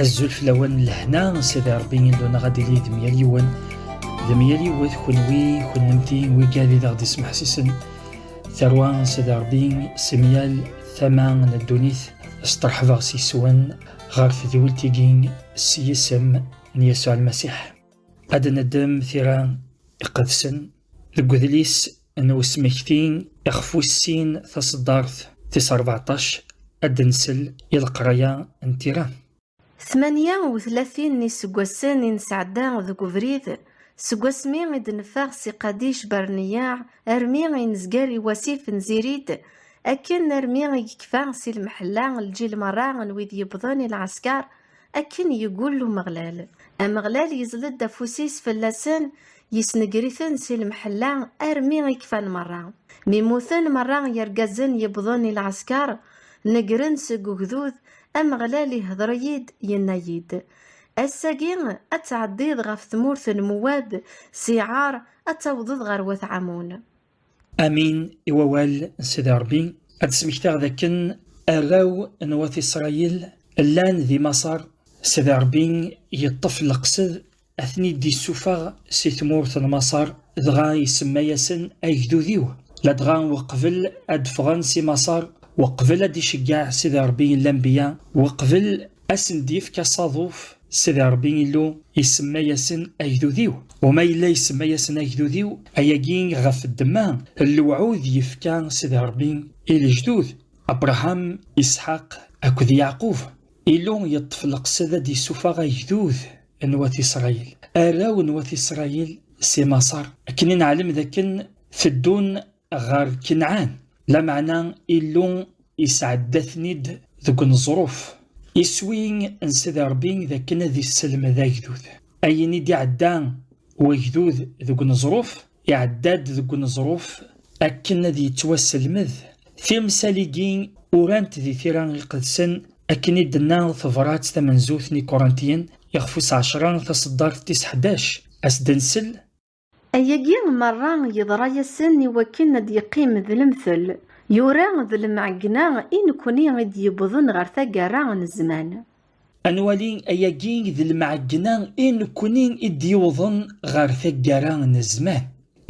Azul flawen lehna sidi Rebbi Illu-nneɣ ad d-ili d mya yiwen d mya yiwet kunwi kunemti wigad i d aɣ-d-ismeḥsisen tarwa n sidi Rebbi si myal tama n ddunit steṛḥbeɣ seg-wen ɣer tedwilt-agi s yisem n Yasuɛ Lmasiḥ. Ad neddem tira iqedsen deg udlis n usmekti iɣef wessin taṣeddart tis rbeɛṭac ad d-nsel i leqraya n tira. Tmanya u tlatin n yiseggasen i nesɛedda deg ubrid, seg wasmi i d-neffeɣ si Qadic Barneyaɛ armi i nezger i wasif n Zirid, akken armi i yekfa si lemḥella lǧil merra n wid yewwḍen i lɛesker Akken yeggul Umeɣlal. Ameɣlal yezled afus-is fell-asen, yesnegger-iten si lemḥella armi i kfan merra. Mi mmuten merra yergazen yewwḍen i lɛesker, negren seg ugdud, Ameɣlal ihder-iyi-d, yenna-yi-d, Ass-agi ad tɛeddiḍ ɣef tmurt n Mewwab si Ɛar, ad tawḍeḍ ɣer wat Ɛamun. Amin i wawal n Sidi Ṛebbi. Ad d-smektaɣ d akken arraw n wat Isṛayil llan di Maṣer, Sidi Ṛebbi yeṭṭef leqsed ad ten-id-issufeɣ si tmurt n Maṣer, dɣa isemma-yasen agdud-iw. Ladɣa weqbel ad d-ffɣen si Maṣer, weqbel ad d-iceggeɛ Sidi Ṛebbi lambiya, weqbel A sen-d-yefk asaḍuf Sidi Ṛebbi Illu, isemma-yasen agdud-iw. U ma yella isemma-yasen agdud-iw, ayagi ɣef ddemma n lewɛud yefka Sidi Ṛebbi i lejdud, Abṛaham, Isḥaq akked Yeɛqub. Illu yeṭṭef leqsed ad d-issufeɣ agdud n wat Isṛayil, arraw n wat Isṛayil, si Maṣer, akken i neɛlem dakken teddun ɣer Kenɛan, lameɛna Illu isɛedda-ten-id deg uneẓruf. Iswi n Sidi Ṛebbi d akken ad isselmed agdud. Ayen i d-iɛedda wagdud deg uneẓruf, iɛedda-d deg uneẓruf akken ad yettwasselmed. Timsal-igi urant di tira iqedsen akken i d-tenna tebṛat tamenzut n Ikuṛantiyen, ixef wis ɛecṛa, taṣeddart tis ḥdac, Ad s-d-nsel, Ayagi merra yeḍra-yasen i wakken ad d-yeqqim d lemtel, yura d lemɛegna i nekni i d-yewwḍen ɣer taggara n zzman. Ad nwali ayagi d lemɛegna i nekni i d-yewwḍen ɣer taggara n zzman.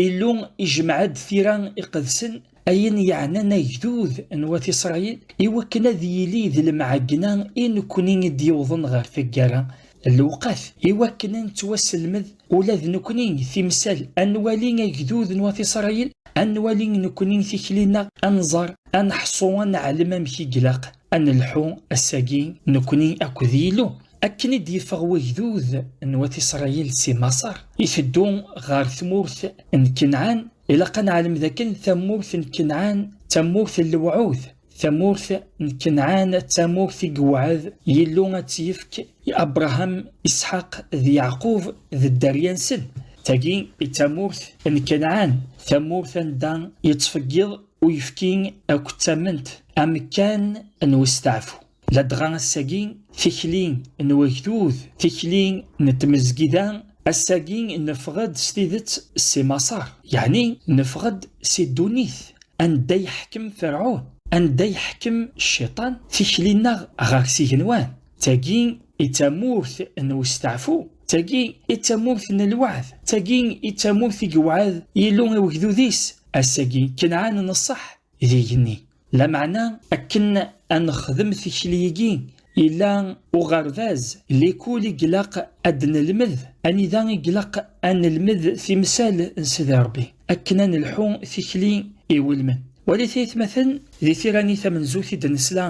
Illu ijemɛ-d tira iqedsen ayen yeɛnan agdud n wat Isṛayil, i wakken ad yili d lemɛegna i nekkni i d-yewḍen ɣer taggara, lewqat i wakken a nettwaselmed ula d nekkni timsal, a nwali agdud n wat Isṛayil, a nwali nekkni tikli-nneɣ, a nẓer, a neḥṣu, a neɛlem amek i ilaq a nelḥu ass-agi nekkni akked Yillu. Akken i d-yeffeɣ wegdud n wat Isṛayil si Maṣer, iteddu ɣer tmurt n Kenɛan, ilaq ad neɛlem dakken tamurt n Kenɛan d tamurt n lewɛud. Tamurt n Kenɛan d tamurt i yewɛed Yillu ad tt-yefk i Abṛaham, Isḥaq d Yeɛqub d dderya-nsen. Tagi i d tamurt n Kenɛan, tamurt anda yettfeggiḍ uyefki akked tament, amekkan n westeɛfu. Ladɣa ass-agi, tikli n wagdud, tikli n tmezgida, ass-agi neffeɣ-d s tidet si Maṣer, yeɛni neffeɣ-d si ddunit anda iḥkem Ferɛun, anda iḥkem Cciṭan, tikli-nneɣ ɣer s igenwan. D tagi i d tamurt n westeɛfu, d tagi i d tamurt n lweɛd, d tagi i d tamurt i yewɛed Yillu i wegdud-is, ass-agi Kanɛan n ṣṣeḥ d igenni. Lameɛna akken ad nexdem tikli-agi, yella uɣerbaz, l'école, i ilaq ad d-nelmed, anida i ilaq ad nelmed timsal n Sidi Rebbi, akken ad nelḥu tikli iwulmen. Walit aytmaten, di tira-nni tamenzut i d-nesla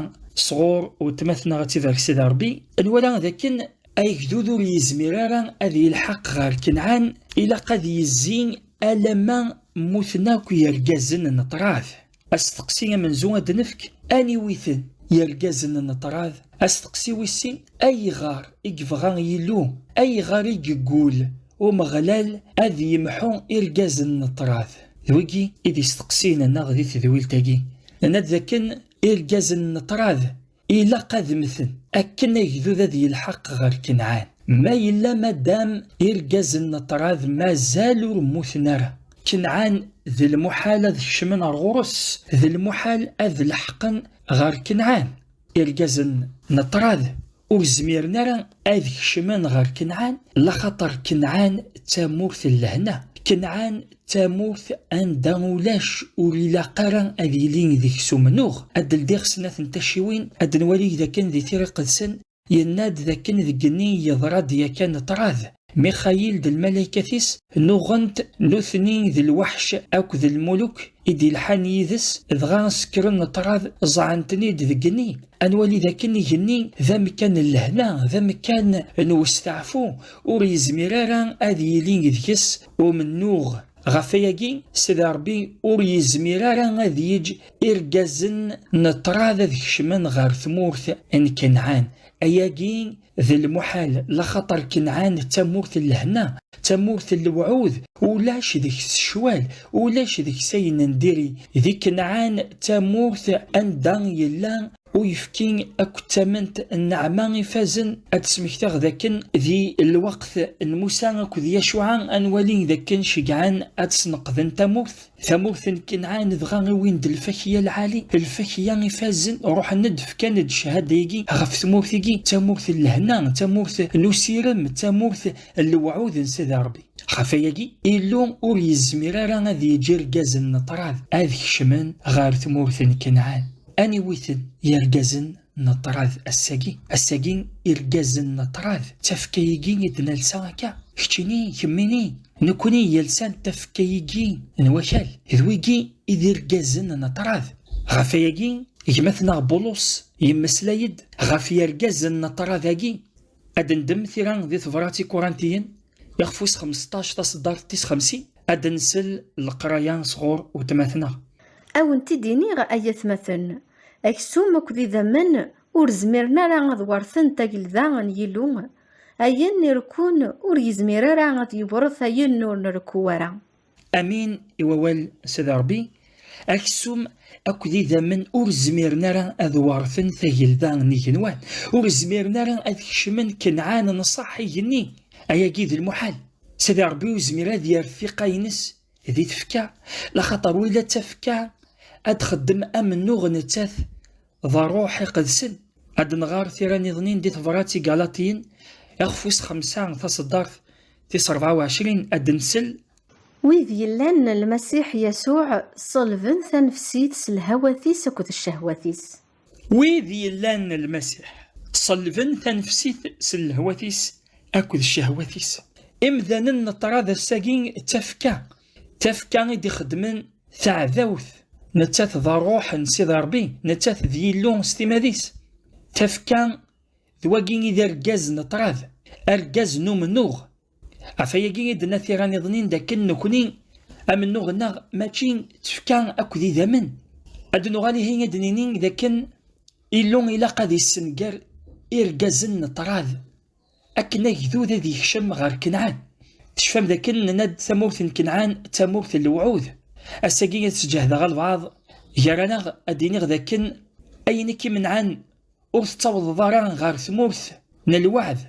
sɣur weltma-tneɣ ad tibarek Sidi Rebbi, nwala dakken agdud ur yezmir ara ad yelḥaq ɣer Kenɛan, ilaq ad yezzi alamma mmuten akk yergazen n ṭṭrad. Asteqsi amenzu ad d-nefk aniwi-ten yergazen n ṭṭrad? Asteqsi wis sin, ayɣer i yebɣa Yillu, ayɣer i yeggul Umeɣlal ad yemḥu irgazen n ṭṭrad? D wigi i d isteqsiyen-nneɣ di tedwilt-agi. Nenna-d dakken irgazen n ṭṭrad Ilaq ad mmten akken agdud ad yelḥaq ɣer Kenɛan. Ma yella madam irgazen n ṭṭrad mazal ur mmuten ara, Kenɛan d lmuḥal ad kecmen ar ɣur-s, d lmuḥal ad leḥqen ɣer Kenɛan. Irgazen n ṭṭrad ur zmiren ara ad kecmen ɣer Kenɛan laxaṭer Kenɛan d tamurt n lehna Kenɛan d tamurt anda ulac ur ilaq ara ad yili deg-s umennuɣ ad d-ldiɣ snat n tacciwin ad d-nwali dakken di Tira Iqedsen yenna-d dakken deg igenni yeḍra-d yakan ṭṭrad Mixayil d lmalaykat-is nuɣen-t nutni d lweḥc akked lmuluk i d-ilḥan yid-s dɣa sekkren ṭṭrad ẓẓɛen-ten-id deg igenni ad nwali dakken igenni d amekkan n lehna d amekkan n westeɛfu ur yezmir ara ad yili deg-s umennuɣ ɣef wayagi Sidi Ṛebbi ur yezmir ara ad yeǧǧ irgazen n ṭṭrad ad kecmen ɣer tmurt n Kanɛan ayagi D lmuḥal laxaṭer Kenɛan d tamurt n lehna, d tamurt n lewɛud, ulac deg-s ccwal, ulac deg-s ayen n diri. Di Kenɛan d tamurt anda yella uyefki akked tament n nneɛma ifazen. Ad d-smekteɣ d akken di lweqt n Musa akked Yacuɛa ad nwali d akken ceggɛen ad sneqden tamurt. Tamurt n Kenɛan dɣa iwin-d lfakya lɛali, lfakya ifazen, ruḥen-d fkan-d cchada-agi ɣef tmurt-agi, d tamurt n lehna, d tamurt n usirem, d tamurt n lewɛud n Sidi Ṛebbi. Ɣef wayagi, Illu ur yezmir ara ad yeǧǧ irgazen n ṭṭrad ad kecmen ɣer tmurt n Kenɛan. Aniwi-ten yirgazen? n ṭrad ass-agi ass-agi irgazen n ṭrad tafka-igi i d-nelsa akka keččini kemmini nekkni yelsan tafka-igi n wakal d wigi i d irgazen n ṭrad ɣef ayagi gma-tneɣ Bulus yemmeslay-d ɣef yirgazen n ṭrad-agi ad ndem tira di tebrat i Kurantiyen Iɣef wis 15 taṣeddart tis 50 ad nsel leqraya sɣur wetmaten-a. A wen-t-id-iniɣ ay atmaten, aksum akked idammen ur zmiren ara ad werten tagelda n Yillu, ayen irekkun ur yezmir ara ad yewret ayen ur nrekku ara. Amin i wawal n Sidi Ṛebbi, aksum akked idammen ur zmiren ara ad weṛten tagelda n igenwan, ur zmiren ara ad kecmen Kenɛan n ṣṣeḥ igenni, ayagi d lmuḥal. Sidi Ṛebbi ur yezmir ad yerr tiqqa-ines di tfekka, laxaṭer wila d tafekka ad txeddem amennuɣ nettat D ṛṛuḥ iqedsen. Ad d-nɣer tira niḍen-in di tebrat i Galaṭiyen, ixef wis xemsa, taṣeddart tis ṛebɛa u ɛecrin, ad d-nsel. Wid yellan n Lmasiḥ Yasuɛ ṣelben tanefsit s lhawat-is akked ccehwat-is. Wid yellan n Lmasiḥ ṣelben tanefsit s lehwat-is akked ccehwat-is. Imdanen n ṭṭrad ass-agi d tafekka Tafekka i d-ixeddmen taɛdawt, nettat d ṛṛuḥ n Sidi Ṛebbi, nettat d Yillu s timad-is. Tafekka d wagi i d argaz n ṭṭrad, argaz n umennuɣ. Ɣef wayagi i d-tenna tira niḍen-in dakken nekkni amennuɣ-nneɣ mačči d tfekka akk d idammen. Ad d-nuɣal ihi ad d-nini dakken Illu ilaq ad yessenger irgazen n ṭṭrad. Akken agdud ad yekcem ɣer Kenɛan. Tecfam dakken nenna-d tamurt n Kenɛan d tamurt n lewɛud? Ass-agi ad sǧehdeɣ albaɛḍ gar-aneɣ ad d-iniɣ dakken ayen i k-imenɛen ur tettawḍeḍ ara ɣer tmurt n lweɛd,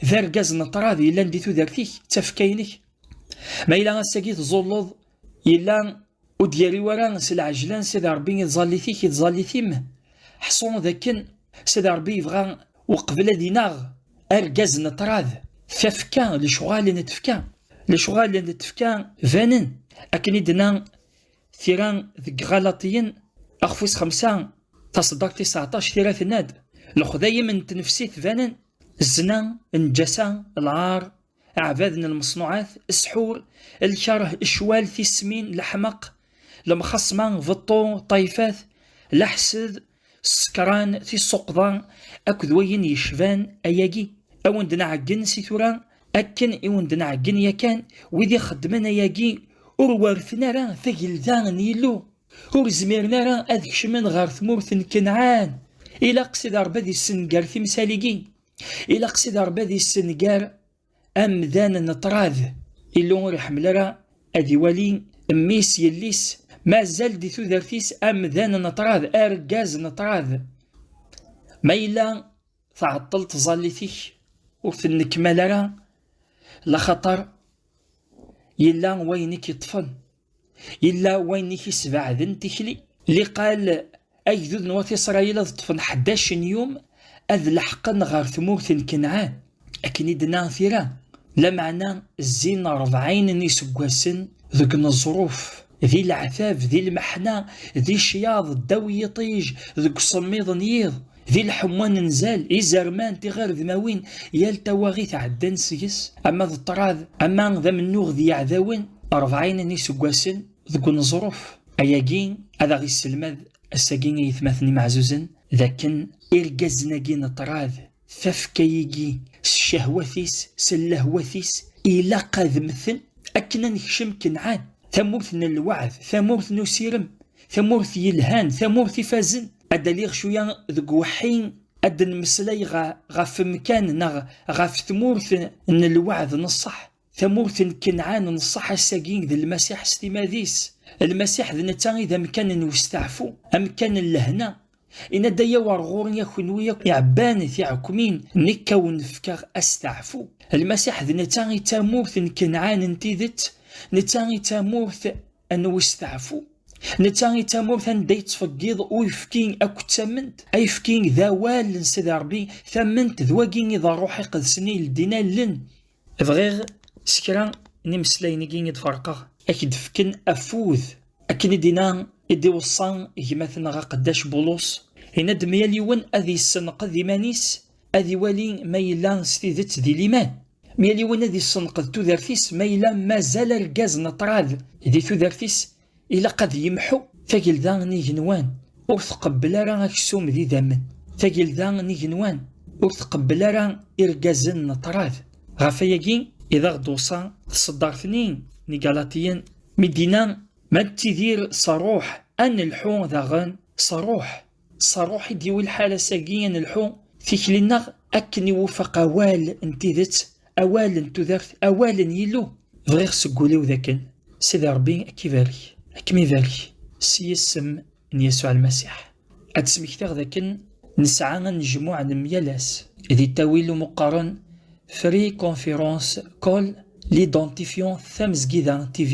d argaz n ṭṭrad yellan di tudert-ik, d tafekka-inek. Ma yella ass-agi tẓulleḍ, yella Ur d-yerri wara s lɛejla n Sidi Rebbi i tẓallit-ik i tẓallit-im, ḥṣu d akken Sidi Rebbi yebɣa uqbel ad ineɣ argaz n ṭṭrad, tafekka, lecɣal n tefka. Lecɣal n tefka banen, akken i d-tenna tira deg Ɣalaṭiyen axef wis xemsa taṣeddart tis seɛṭac, tira tenna-d, Lexdayem n tnefsit banen, zzna, lneǧasa, lɛar, aɛbad n lmeṣnuɛat, sḥur, lkeṛh, ccwal, tismin, leḥmeq, lemxaṣma, beṭṭu, ṭṭayfat, leḥsed, ssekṛan, tissuqḍa akked wayen yecban ayagi. A wen-d-nɛeggen si tura akken i wen-d-nɛeggen yakan, wid ixeddmen ayagi ur werrten ara tagelda n Yillu, ur zmiren ara ad kecmen ɣer tmurt n Kanɛan. Ilaq Sidi Ṛebbi ad issenger timsal-igi, ilaq si d rebbi ad yessenger amdan n ṭrad illu ur iḥemmel ara ad iwali mmi-s yelli-s mazal di tudert-is amdan n ṭrad argaz n ṭrad ma yella tɛeṭṭel tẓallit-ik ur tennekmal ara laxaṭer yella wayen i k-yeṭṭfen Illa wayen i k-isbeɛden tikli. Liqal agdud n wat Isṛayil ad ṭṭfen ḥdac n yum ad leḥqen ɣer tmurt n Kanɛan, akken i d-tenna tira, lameɛna zzin ṛebɛin n yiseggasen deg uneẓruf, di leɛtab, di lmeḥna, di ccyaḍ, ddaw yiṭij, deg usemmiḍ n yiḍ, Di lḥemwa n nzal, izerman, tiɣiredmawin, yal tawaɣit ɛeddan seg-s, ama d ṭṭrad, ama d amennuɣ d yiɛdawen, rebɛin n yiseggasen deg uneẓruf. Ayagi ad aɣ-isselmad ass-agi i yetmaten imeɛzuzen d akken irgazen-agi n ṭṭrad, tafekka-igi s ccehwat-is, s llehwat-is, ilaq ad mmten akken ad nekcem Kenɛan, tamurt n lweɛd, tamurt n usirem, tamurt yelhan, tamurt ifazen. ad aliɣ cuya deg weḥḥi ad d-nmeslay ɣef mkan neɣ ɣef tmurt n lweɛd n ṣṣeḥ tamurt n Kenɛan n ṣṣeḥ ass-agi d Lmasiḥ s timad-is Lmasiḥ d netta i d amkan n westeɛfu amkan n lehna inna-d ay awer ɣur-i a kenwi akk iɛebban tiɛekmin nekk a wen-fkeɣ asteɛfu Lmasiḥ d netta i d tamurt n Kenɛan n tidet netta i d tamurt Anwa isteɛfu? Netta i d tamurt anda yettfeggiḍ uyefki akked tament. Ayefki d awal n Sidi Ṛebbi, tament d wagi i d Ṛṛuḥ Iqedsen i yeldin allen. Bɣiɣ s kra n imeslayen-agi i d-ferqeɣ, a k-d-fken afud. Akken i d-inna, i d-iweṣṣa gma-tneɣ Aqeddac Bulus, yenna-d mya-l yiwen ad yessenqed iman-is ad iwali ma yella s tidet di liman, mi yal yiwen ad issenqed tudert-is, ma yella mazal argaz n ṭṭrad di tudert-is, ilaq ad yemḥu. Tagelda n igenwan ur tqebbel ara aksum d idammen. Tagelda n igenwan ur tqebbel ara irgazen n ṭṭrad. Ɣef wayagi i d aɣ-d-uṣa tṣeddart-nni n Igalatiyen, mi d-inna, Ma nettidir s Ṛṛuḥ, ad nelḥu daɣen s Ṛṛuḥ. S rruḥ i d-yuwi lḥal ass-agi ad nelḥu tikli-nneɣ akken iwufeq awal n tidet, awal n tudert, awal n Yillu. Bɣiɣ seg wul-iw dakken Sidi Ṛebbi ad k-ibarek, ad kem-ibarek s yisem n Yasuɛ Lmasiḥ. Ad d-smektiɣ dakken nesɛa anejmuɛ n myal ass di ttawil umuqqaren Free Conference Call, L'Identifiant Tamezgida TV,